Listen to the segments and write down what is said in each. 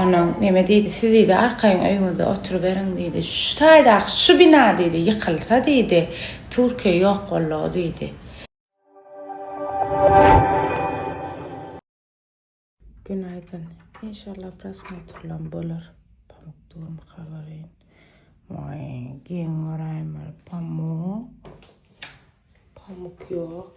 Onuň neme diýdi, siz diýdi, arkaýyn öýüňizde oturyberiň diýdi. Şu taýdaky şu bina diýdi, ýykylsa diýdi, Türkiýe ýok boldugy diýdi. Günaydyn. Inşallah prosmotrlam bolar. Pamuk dugamy kabaryn. Vay, geň görayim bir pamuk. Pamuk yok.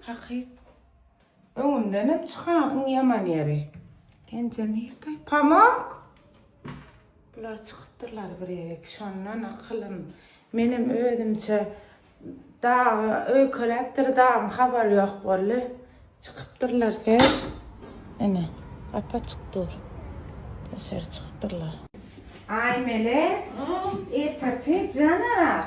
Hakyt. Öňümdenem çykan iň ýaman ýeri. Penje nirde? Pamok! Bular çykypdyrlar bir ýere. Şondan akylym. Menem özümçe dagy öýkeläpdir, dagyň habary ýok boldy. Çykypdyrlar sen. Ene, gap açyk dur. Daşary çykypdyrlar. Aýmele, ertaty jana.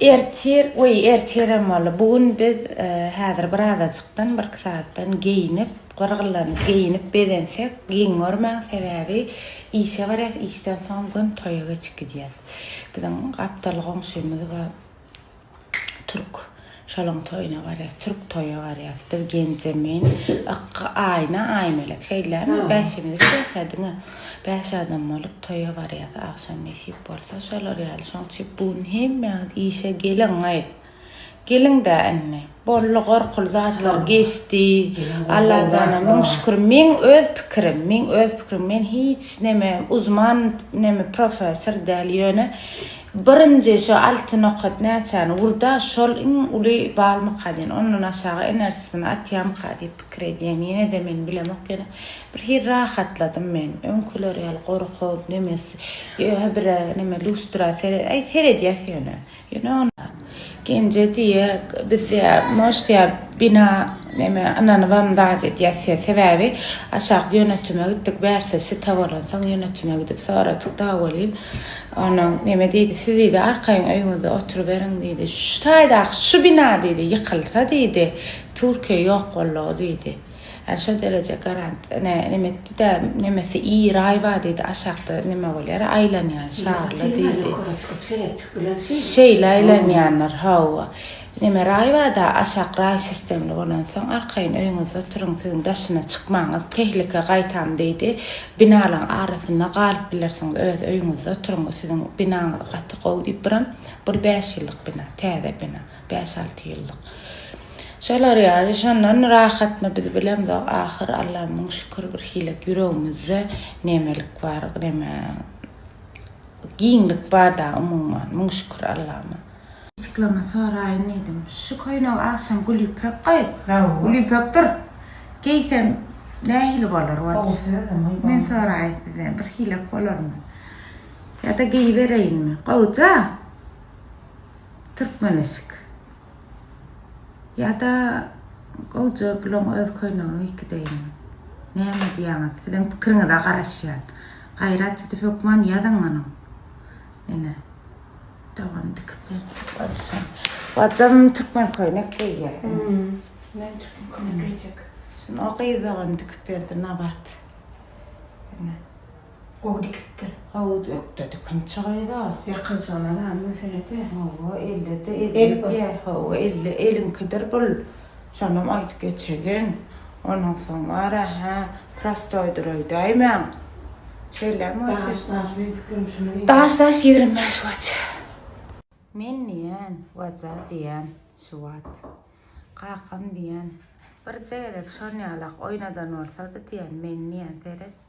Ertir, we ertirem boldy. Bu gün biz häzir bir azajykdan, bir iki sagatdan geýinip, gyrgylanyp, geýinip bezensek, geň görmäň, sebäbi işe barýas, işden soň gün toýa geçip gidýär. Biziň gapdal goňşymyz bar. Türk şalaň toýuna barýas, türk toýa barýas. Biz Genje men, Ykky, Aýna, Aýmelek şeýdämi? Bäşimiz gidýäs-ä diňe. Bäş adam bolup toýa barýas. Agşam nesip bolsa şolar ýaly. Şoň üçin bu gün hemmäňiz işe geliň-aý. Geliň-dä indi. Bolly gorkuly zatlar geçdi Allajana müň şükür meň öz pikirim meň öz pikirim men hiç neme uzman neme professor däl ýöne birinji şo alty nokat näçäni urda şol iň uly balmyka diýen ondan aşagy enerjisini atýamyka diýip pikir edýän ýenede men bilemok ýöne bir hil rahatladym men öňküler ýaly gorkup nemes ýöne bire neme lustra seret aý seredýäs ýöne. Ýöne onda Genje diýýä, biz diýýä, может, diýýä, bina neme ynanybam zat edýäs diýýä, sebäbi aşak ýönetime gitdik, bärsi sita bolansoň ýönetime gidip soradyk dagy welin, onuň neme diýdi, siz diýdi, arkaýyn öýüňizde oturyberiň diýdi, şu taýdaky şu bina diýdi, ýykylsa diýdi, Türkiýe ýok boldugy diýdi. Ýani şol dereje garant ne neme etdida nemesi iý raý bar diýdi aşakda neme bolýara aýlanýan şarly diýdi. Ýokara çykyp seretdik bilen şeýle. Şeýle aýlanýanlar hawa. Neme raý barda aşak raý sistemli bolansoň arkaýyn öýüňizde oturyň siziň daşyna çykmaňyz tehlike gaýtam diýdi. Binalaň arasynda galyp bilersiňiz öz öýüňizde oturyň siziň binaňyz gaty gowy diýip biram bul bäş ýyllyk bina täze bina. Bäş-alty ýyllyk. Şolar ýaly, şondan rahatmy biz bilemzok, ahyr Alla müň şükür bir hili ýüregimizde nemelik bar, neme giňlik bar-da umuman, müň şükür Allama. Çyklama soraýyn diýdim. Şu köýnegi agşam Gülýüpek goý. Gülýüpek dur. Geýsem nähili bolar waj? Men soraýyn sizden, birhilek bolarmy? Ýa-da geýibereýinmi? Gowja! Türkmen eşik. Ýa-da gowja gulaň öz köýneginiň iki deýini. Näme edýäňiz? Siziň pikiriňize garaşýan. Gaýrat edip hökman ýazyň muny. Ene. Dogan dikip berdi. Bajyjam. Bajym türkmen köýnek geýýär. Men türkmen köýnek geýjek. Şuny o gyz dogan dikip berdi nabat. Ene. Gowy dikipdir. Howuz ökde dikim çygaýda. Ýakajygyny azan göterede. Hawa ellede elli diýer. Hawa elli eliňkidir bul. Şonam aýdyp geçegin. Ondan soň wara hä prostoýdyr öýdäýmäň. Şeýlemi waçi? Daş daş meň pikirim şuny diýýän. Daş daş ýigrimi bäş waçi. Men diýen waja diýen şu wat. Kakam diýen. Birje gezek şon ýalak oýnadan bolsady diýen men diýen seret.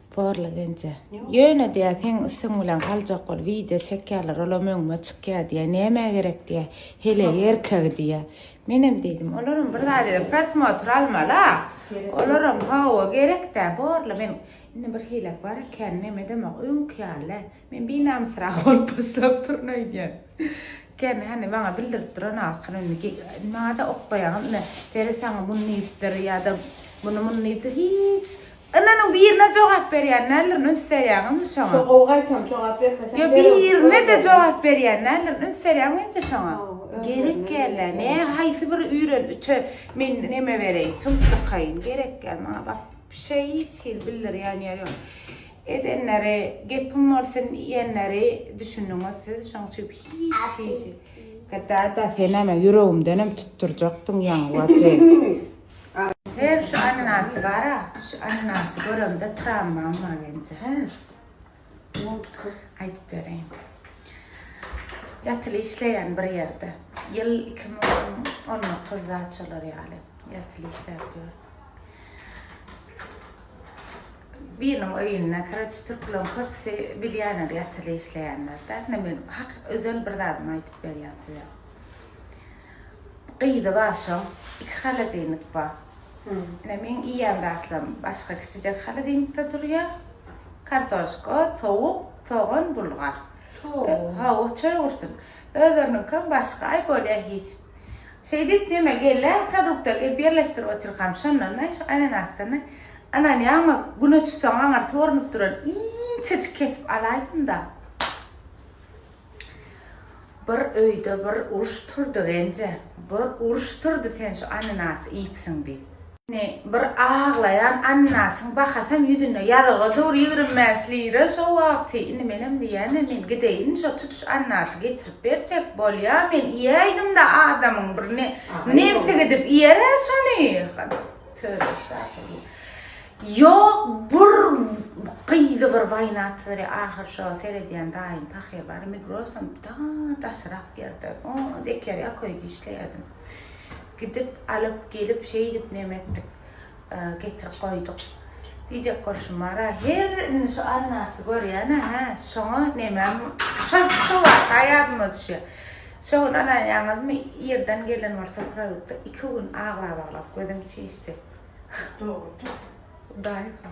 Porla genje. Ýöne diýä seň üstüň bilen galjak bol wideo çekýärler olam öňüme çykýa diýä nämä gerek diýä hele erkegi diýä menem diýdim olaram bir zat eden prosmotr almala olaram hawa gerekdä borla men indi bir hilek bar ekän nemedemok öňki ýaly Men binamysrak bolup başlap durun öýdýän. Kän hany maňa bildirip duran ahyr indi nada oklaýaňyz ine Peri saňa muny diýipdir ýa-da muny muny diýipdir hiç Ynanyň birine jogap berýän nälerini üns berýäňizmi şoňa? Şo gowy gaýtam jogap bermeseň Ýok birine-de jogap berýän nälerini üns berýäňmi menje şoňa? Gerek gälä ne haýsy bir üýren üte men neme bereýin suw çykaýyn gerek gäl maňa wapşe hiç hili bildirýän ýeri ýok. Edenleri gepim bolsun iýenleri düşündiňiz siz şoň üçin hiç hiç Gdada senem ýüregimdenem tutdurjakdyň ýaňy bacym. Her şu ananasy bara şu ananasy göremde tramwam magenje hä Ýolkys aýdyp bereýin ýatyly işleýän bir ýerde ýyl iki müň on dokuz zat şolar ýaly ýatyly işläp ýör. Biriniň öýünde kireç türküleň köpüsi bilýänler ýatyly işleýänler dä. Ine men hak özel bir zadymy aýdyp berýän size. Gyzy bar şoň, iki holodilnik bar. Ine meň iýýän zatlarym başga kiçijek holodilnikde durýa. Kartoşka, towuk, sogan, bulgar. Hawa çöl gursun. Özleriniňkem başga, aý bolýa hiç. Şeýdip, diýme, gelle produkty gelip ýerleşdirip otyrkam, şondan-da şu ananasdan-da anan ýagyma güne tutsaň aňyrsy görnüp duran inçejik kesip alaýdym-da. Bir öýde bir uruş turdy, Genje, bir uruş turdy, sen şu ananasy iýipsiň diýip. Ine, bir aglaýan annasyň bakasaň ýüzünde ýazylgy dur, ýigrimi bäş lira şo wagty. Indi menem diýýän-ä, men gideýin, şo tutuş annasy getirip berjek, bolýa, men iýäýdim-de, adamyň bir ne, nebsi gidip iýer-ä şony. Töbe estagfurullah. Ýok, bir gyzy bir waýnatsyzdyr-ä, ahyr şo seredýän daýym pahyr bar, Migrosam daşyrak ýerde, o, Zekeriýa köýde işleýärdim. Gidip, alyp gelip, şeýdip neme etdik, getirip goýduk. Diýjek bolşum bar-a, her indi şu Alnasy görýän-ä, hä, şoňa nemäm, şol, şo waka ýadyma düşýär. Şo gün alaýaňyzmy, ýerden gelen bir supralykda iki gün aglap-aglap gözüm çişdi. Dogrudyr. Hudaýa.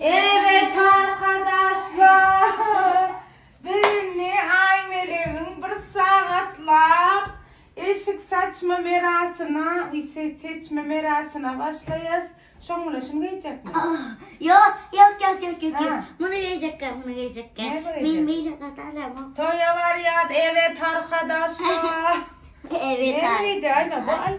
Erbet arkadaşlar biz indi Aýmelegiň bir sagatlap eşik saçma merasyna seçme merasyna başlaýas. Şoň bilen şuny geýjekmi? Ýok, ýok, ýok, ýok, ýok, ýok. Muny geýjekkä, muny geýjekkä. Men beýle zat alamok. Toýa barýas, ebet arkadaşlar. Ebet. Näme geýjek Aýme bu aý?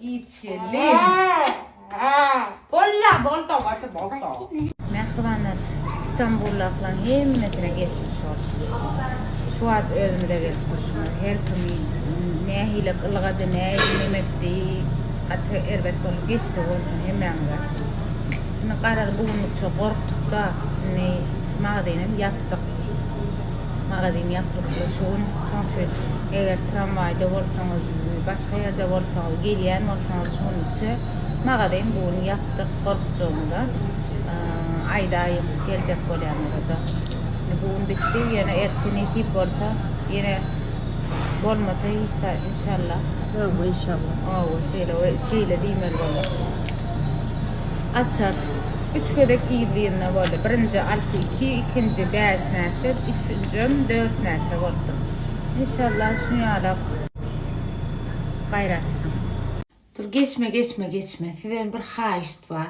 Giç gelin. Bolla bolda gaty bolda. Mähribanlar Istanbullaklaň hemmesine geçmiş bolsun. Şu wagt özümde gelip durşumy her kimi nähili ylgady, nähili nemekdi, gaty erbet bolup geçdi bolsun hemmäňize. Indi garaz bu günlükçe gorkduk-da, indi magazinem ýapdyk. Magazin ýapylykda şu gün. Şoň üçin eger tramwaýda bolsaňyz, başga ýerde bolsaňyz, gelýän bolsaňyz şu gün üçe magazin bu gün ýapdyk gorkjagymda aýdaýyn geljek bolýanlarada. Indi bu gün bitdi ýene ertesi nesip bolsa ýene bolmasa hiç inşallah. Hawa inşallah. Hawa şeýle we şeýle diýmeli bolar. Açar. Üç gezek yzly-yzyna boldy. Birinji alty iki, ikinji bäş näçe, üçünjem dört näçe bolupdyr. Inşallah şuny ýalak gaýrat ediň. Dur geçme geçme geçme sizden bir haýyşt bar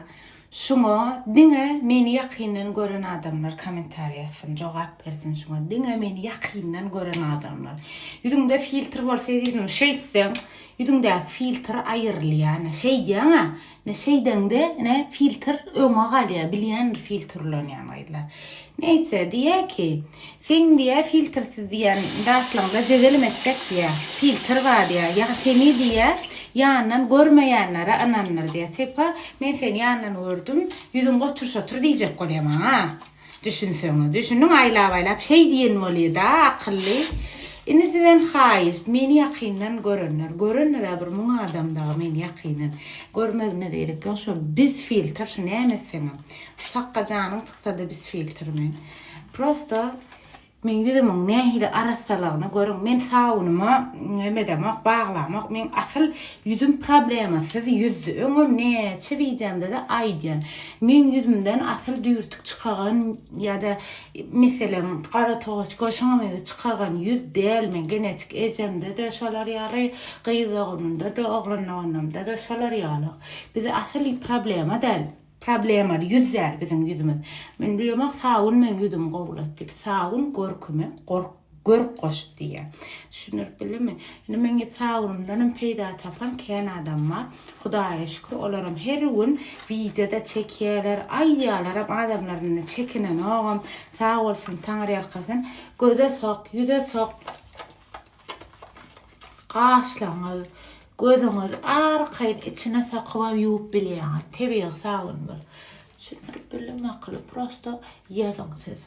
şuňa diňe meni ýakyndan gören adamlar komentariýa ýazsyn jogap bersin şuňa diňe meni ýakyndan gören adamlar ýüzüňde filtr bolsa ýüzüňi şeýtseň ýüzüňdäki filtr aýyrylýa ine şeýdýäňä Ine şeýdeňde ine filtr öňe galýar bilýändir filtrlenýän gyzlar. Neýse diýýär ki seň diýýär filtrsiz diýýän zatlaňda jezelim etjek diýýär. Filtr bar diýýär. Ýa seni diýýär ýandan görmeýänlere ynandyr diýýär. Tepa men seni ýandan gördüm ýüzüň gotur şotur diýjek bolýar maňa. Düşünseňiz. Düşüniň aýlap-aýlap şeý diýen bolýa-da akylly. Indi sizden haýyşt, meni ýakyndan görenler, görendir-ä bir müň adam dagy meni ýakyndan. Görmegine zerek ýok, şo biz filtr, şu näme etseňem. Şu sakga janyň çyksa-da biz filtrmen. Prosta Meň ýüzümiň nähili arassalygyny görüň, men sabunyma neme edemok, baglamok, meň asyl ýüzüm problemasyz ýüzdü, öňem näçe wideomda-da aýdýan, meň ýüzümden asyl düýrtük çykagan ýa-da meselem gara togaç goşuňam ýüzi çykagan ýüz däl, meň genetik ejemde-de şolar ýaly, gyz doganymda-da, oglan doganymda-da şolar ýaly, bizi asyl problema däl. Problemaly ýüz däl biziň ýüzümiz. Men bilemok sabun meň ýüzümi gowulat diýip. Sabun görküme gork görk goşdy diýýä. Düşündirip bildimmi? Indi meň ýüz sabunymdanam peýda tapan kän adam bar. Hudaýa şükür olaram her gün wideoda çekýäler, aýdýalaram adamlar indi çekinenogam. Sag bolsun, taňyrýalkasyn. Göze sok, ýüze sok. Gaşlaňyz, gözüňiz arkaýyn içine sokybam ýuwup bilýäňiz. Tebigy sabyn bul. Düşündirip bildim makyly prosto ýazyň siz.